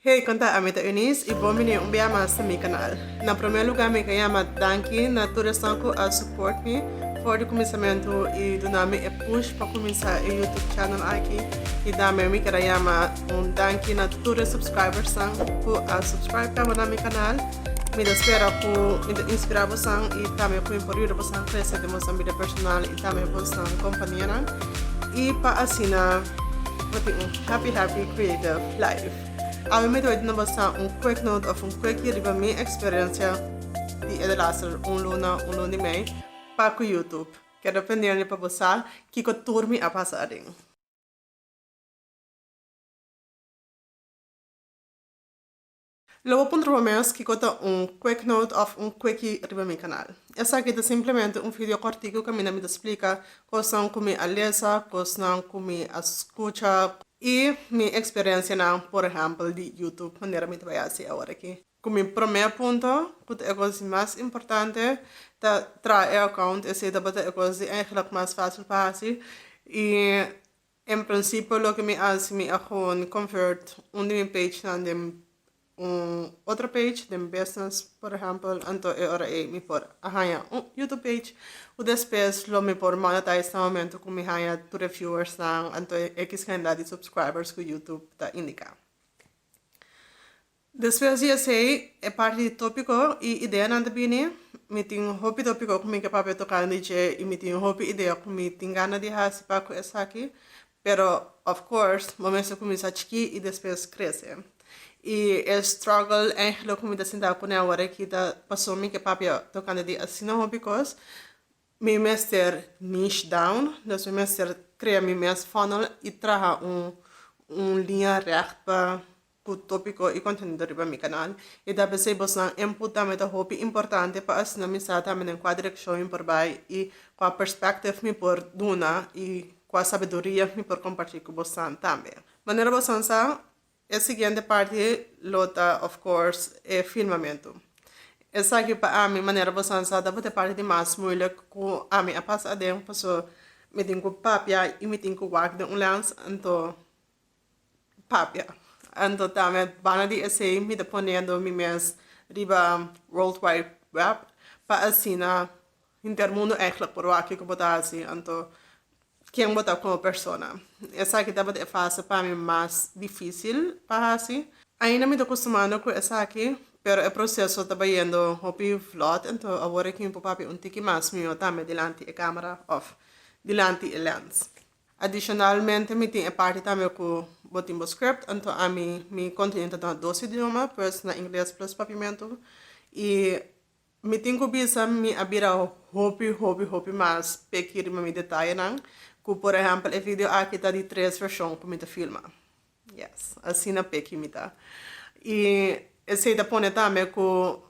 Hey, kon ta? Ami ta Eunice i bon bini un bia mas na mi kanal. Na promé lugá mi ta yama danki na tur esan ku a support mi for di kuminsamentu i duna mi e push pa kuminsá e YouTube channel aki. I tambe mi keda yama un danki na tur e subscribersnan ku a subscribe kaba na mi kanal. Mi ta spera ku mi ta inspirá bosan i tambe ku mi por yuda bosan krese den bosan bida personal i tambe bosan kompanianan i pa asina. Bo tin un happy happy creative life. Ami mi dor di no basa un quick note of un quickie riba mi experiencia di e delaster un luna, un luna y mei pa cu YouTube. Keda pendiente pa bo sa kico tur mi a pasa aden. Lo bo puntra bo mes kico ta un quick note of un quickie riba mi canal. Esaki ta simplemente un video cortico caminda mi ta splica cosnan cu mi a lesa, cosnan cu mi a scucha y mi experiencianan por ehempel di YouTube manera mi ta bay haci awor aki. Cu mi prome punto cu ta e cos di mas importante ta traha e account esey tabata e cos di eigenlijk mas facil pa haci y En principio loke mi hasi mi a gewoon convert un di mi page nan den un otro page den business por ejemplo anto e ora ey mi por a haya un youtube page cu despues lo mi por monetize na momento cu mi haya tur e viewers nan anto e ex cantidad di subscribers cu youtube ta indica. Despues di esei e parti di tópiko i ideanan ta bini. Mi tin hopi tópiko ku mi ke papia tokan di dje i mi tin hopi idea ku mi tin gana di hasi pa ku esaki, pero of course bo mester kuminsá chikí i despues krese. I e struggle Angelo ku mi ta sintá kuné awor aki ta pasobra mi ke papia tokante di asina hopi kos. Mi mester niche down, dus mi mester krea mi mes funnel i traha un un liña règt pa ku tópiko i kontenido riba mi kanal. I ta p'esei bosnan input tambe ta hopi importante pa asina mi sa tambe den kua direkshon mi por bai i kua perspective mi por duna i kua sabiduria mi por kompartí ku bosnan tambe. Manera bosnan sa, E siguiente parti lo ta of course e firmamento. Esaki pa ami manera bosan sa ta bo ta e parti di mas moeilijk cu ami a pasa aden paso mi tin cu papia y mi tin cu wak den un lens anto papia anto tame banda di esey mi ta ponendo mi mes riba world wide web pa asina Intermundo eigenlijk por wak kiko bo ta hasi anto ken bo ta como persona. Esaki tabata e fase pa mi mas dificil pa hasi. Ainda mi ta custumando cu esaki pero e proceso ta bayendo hopi vlot anto awor e kimpo papia un tiki mas miho tambe dilanti e camera of dilanti e lens. Adicionalmente mi tin e parti tambe cu bo tin bo script anto ami mi continu ta duna dos idioma pues na ingles plus papiamento y Mi tin cu bisa mi a bira hopi, hopi, hopi mas peki riba mi detayenan, cu por ehempel e video aki ta di tres version cu mi ta filma. Yes, asina peki mi ta. Y esey ta pone tambe cu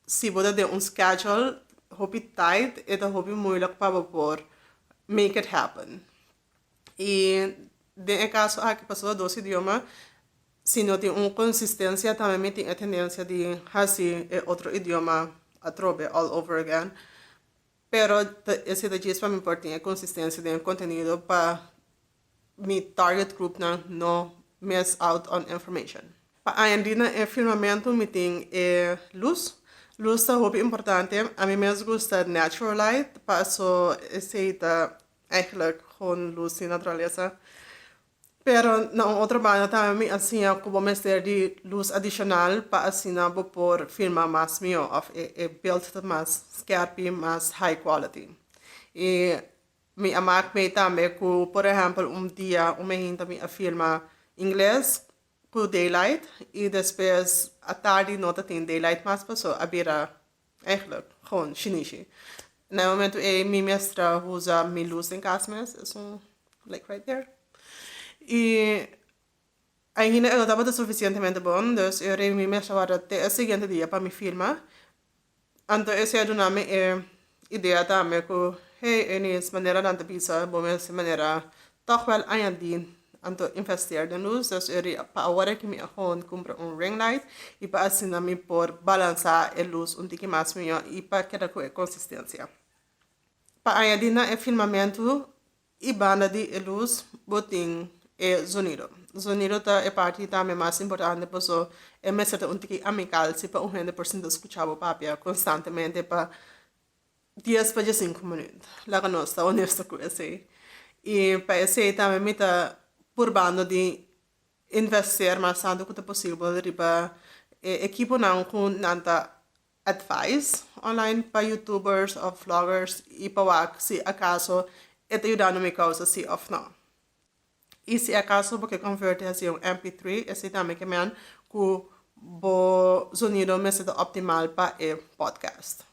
si bo ta den un schedule hopi tight e ta hopi moeilijk pa bo por make it happen. I den e kaso aki pasobra e dos idioma si no tin un konsistensia tambe mi tin e tendensia di hasi e otro idioma atrobe all over again pero ta ese ta djes pa mi por tin e konsistensia den e kontenido pa mi target grupnan no miss out on information. Pa aña di na e firmamento mi tin e lus lus ta hopi importante a mi mes gusta natural light paso esei ta Eigenlijk con luz di naturaleza. Pero na un otro banda tambe mi a siña cu bo mester di luz adicional pa asina bo por filma mas mihó of e beeld ta mas skerpi, mas high quality. Y mi a mak mee tambe cu por ehempel un dia un mehinta mi a filma ingles cu daylight y despues atardi no ta tin daylight mas paso a bira Eigenlijk gewoon shinishi. Na e momento ei mi mester a usa mi luz den cas mes, es un like right there. Y ainda e no tabata suficientemente bon, dus e rei mi mester a warda te e siguiente dia pa mi firma. Anto esey a duna mi e idea tambe cu hey Eunice, manera nan ta bisa bo mester manera toch wel añadi Anto investeer den luz, dus e ri pa awor aki mi a hon cumpra un ring light y pa asina mi por balansa e luz un tiki mas miyo y pa keda cu e consistencia. Pa añadi na e filmamento y banda di e luz bo tin e zonido. Zonido ta e parti tambe mas importante paso e mester ta un tiki amical si pa un hende por sinta scucha bo papia constantemente pa. dies pa dje sinku minuut, laga nos ta onesto ku esei. I pa esei tambe mi ta purbando di investeer mas tantu ku ta posibel riba e ekiponan ku nan ta advise online pa youtubers òf vloggers i pa wak si akaso e ta yudando mi kousa si òf no. I si akaso bo ke konverti hasi un MP3, esei tambe ke men ku bo zonido mester ta optimal pa e podcast.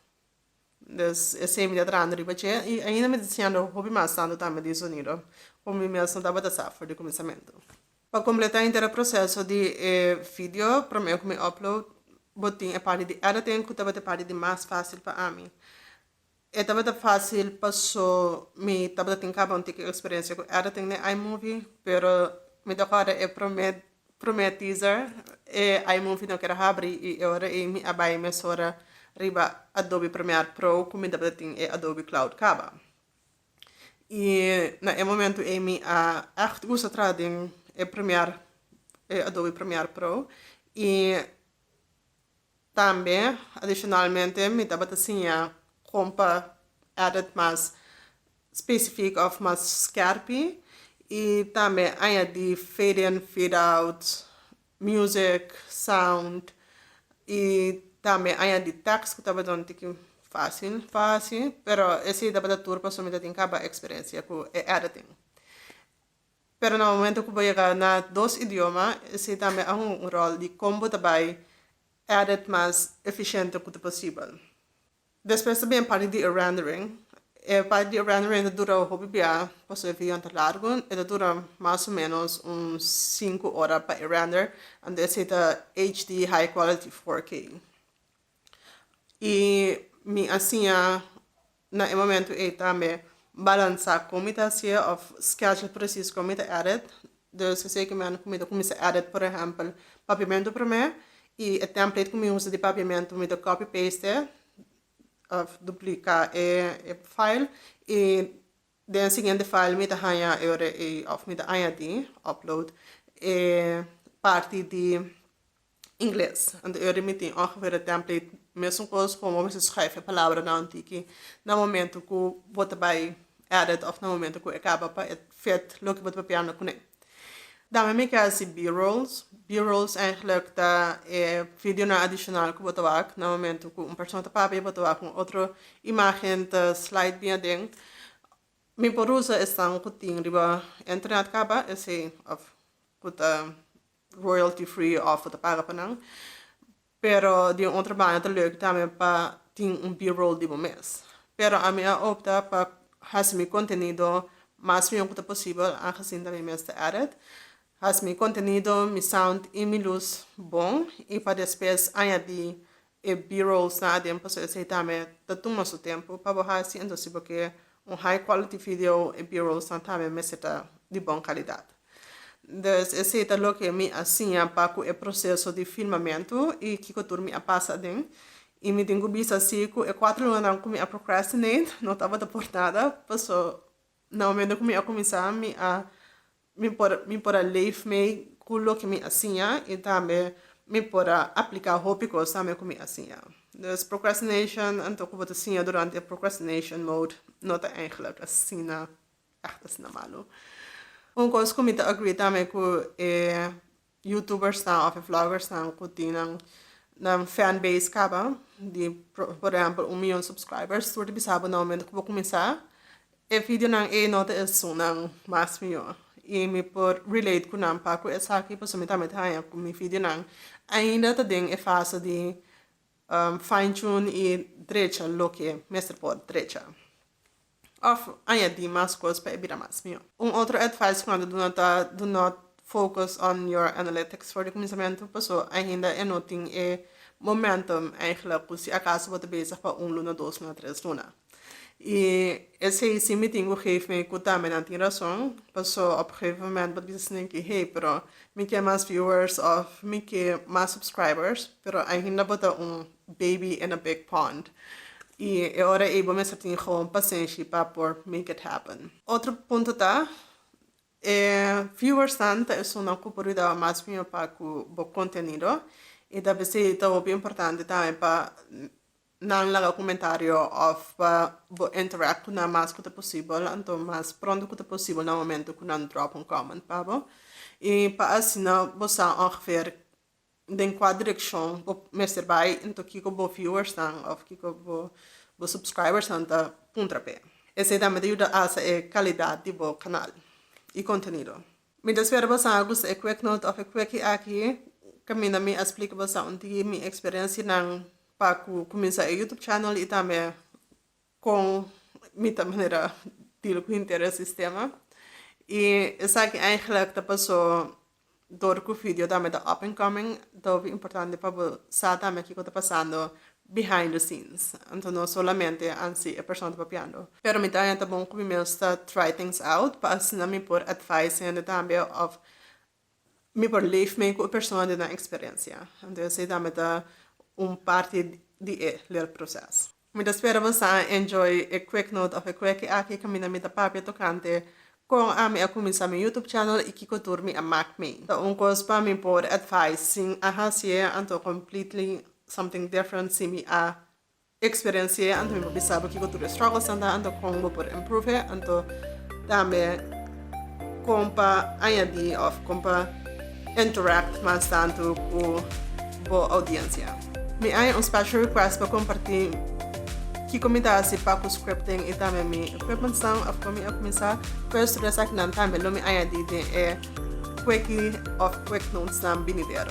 Des esei mi ta trahando riba dje i ainda mi ta siendo hopi mas tantu tambe disunido ku mi mes no tabata sa for di kuminsamentu. Pa kompletá henter e proseso di e vidio, promé ku mi upload bo tin e parti di editing ku tabata e parti di mas fásil pa ami. E tabata fásil pasó mi tabata tin kaba un tiki eksperensia ku editing den iMovie, pero mi ta kòrda e promé Promé teaser, E ai movie no ker a habri i e ora ei mi a bai mesora riba Adobe Premiere Pro ku mi tabata tin e Adobe Cloud kaba. I na e momentu ei mi a ègt usa traha den e Premiere, e Adobe Premiere Pro i Tambe adicionalmente mi tabata siña con pa edit mas specifico of mas skerpi y tambe añadi fade in fade out, music, sound y tambe añadi tekst cu tabata un tiki facil pa haci pero esey tabata tur pasobra mi ta tin caba experiencia cu e editing. Pero na momento ku bo yega na dos idioma, esei tambe a hunga un ròl di kon bo ta bai edit mas efisiente ku ta posibel. Despues ta bini e parti di e rendering. E parti di e rendering ta dura hopi bia, pasobra e videonan ta largu, e ta dura mas o menos un sinku ora pa e render, anto esei ta HD high quality 4K. I mi a siña na e momento ei tambe balansa con mi ta hacié of schedule precies con mi ta edit, dus esey cu mi anda cu mi ta cuminsa edit por ehempel papiamento prome y e template cu mi usa di papiamento mi ta copy paste of duplica e file y den siguiente file mi ta haña e ora ei of mi ta añadi, upload, e parti di. Ingles. Anterior di mi tin un geveerde template mescos como bo bisa schrijf e palabranan tiki na momento cu bo ta bay edit of na momento cu e caba pa e fit loke bo ta papia na cune. Dan mi mi ke haci b-rolls. B-rolls eigenlijk ta e videonan adicional cu bo ta wak na momento cu un persona ta papia y bo ta wak un otro imagen ta slide bien aden. Mi por usa esnan cu tin riba internet caba esey of cu ta royalty free of bo ta paga pa nan pero di un otro banda ta lek tambe pa tin un b-roll di bo mes pero ami a opta pa haci mi contenido mas miun cu ta posibel agesin ta mi mes ta edit haci mi contenido mi sound y mi luz bon y pa despues añadi E B-rolls nan aden paso esey tambe ta tuma su tempo pa bo hasi, enton si bo ke un high quality video e B-rolls nan tambe mester ta di bon calidad. Des esey ta loke mi a siña pa cu e proceso di filmamento y kico tur mi a pasa aden y mi tin cu bisa si cu e cuatro lunanan cu mi a procrastinate no tabata por nada paso na momento cu mi a cuminsa mi a Mi por mi por a leef mei ku loke mi a siña i tambe mi por a apliká hopi kos tambe ku mi a siña. Dus procrastination, anto ku bo ta siña durante e procrastination mode, no ta ègèlek asina ègt asina malu. Un kos ku mi ta agree tambe ku e youtubersnan òf e vloggersnan ku tin nan nan fan base kaba di por ehèmpel un miyon subscribers tur ta bisa bo na momento ku bo kuminsá e videonan ei no ta esun nan mas mihó i mi por relate ku nan pa ku esaki pasobra mi tambe ta haña ku mi videonan ainda ta den e fase di fine tune i drecha loke mester por drecha. òf añadí mas kos pa e bira mas mihó. Un otro advise ku nan ta duna ta do not focus on your analytics for di kuminsamentu paso ainda e no tin e momentum eigelik ku si akaso bo ta bezig pa un luna, dos luna, tres luna. I esei si mi tin ku geef mi ku tambe nan tin rason paso op e gegeven moment bo ta bisa esnan ke hey pero mi ke mas viewers òf mi ke mas subscribers pero ainda bo ta un Baby in a big pond. Y e ora ey bo mester tin gewoon pasenshi pa por make it happen. Otro punto ta, e viewers nan ta esunnan cu por yuda bo mas miaw pa cu bo contenido. Y ta pesey ta hopi importante tambe pa nan laga comentario of pa bo interact cu nan mas cu ta posibel. Anto mas pronto cu ta posibel na momento cu nan drop un comment pa bo. Y pa asina bo sa ongeveer den kua direkshon bo mester bai nto kiko bo viewersnan òf kiko bo supskribersnan ta puntra p'e. Esei tambe ta yuda alsa e kalidat di bo kanal i kontenido. Mi ta spera boso a gusta e kueknoot òf e kueki aki, kaminda mi a splika boso un di mi eksperensianan pa ku kuminsá e YouTube channel i tambe Con mi ta manera deal cu henter el sistema. Y esaki eigenlijk ta paso door cu video tambe ta up and coming, ta hopi importante pa bo sa tambe kico ta pasando behind the scenes. Anto no solamente ansi e persona ta papiando. Pero mi ta anja ta bon cu mi mes ta try things out pa asina mi por advise hende tambe of Mi por leef mee ku e persona den nan eksperensia. Entonces e dame ta un parti di e leerproces. Mi ta spera bo sa a enjoy e QuickNote of e Quickie aki kaminda mi ta papia tokante kon ami a kuminsá mi YouTube channel i kiko tur mi a mak mei. Ta un kos pa mi por advise sin a hasié anto completely something different si mi a Experienci'e anto mi por bisabo kico tur e struggles-nan ta anto con bo por improve'e anto tambe con pa añadi of con pa interact mas tanto cu bo audiencia. Mi aña un special request pa comparti kico mi ta haci pa cu scripting y tambe mi equipments-nan of con mi a cuminsa cu e studio esakinan tambe lo mi añadi den e quickie of quick notes-nan binidero.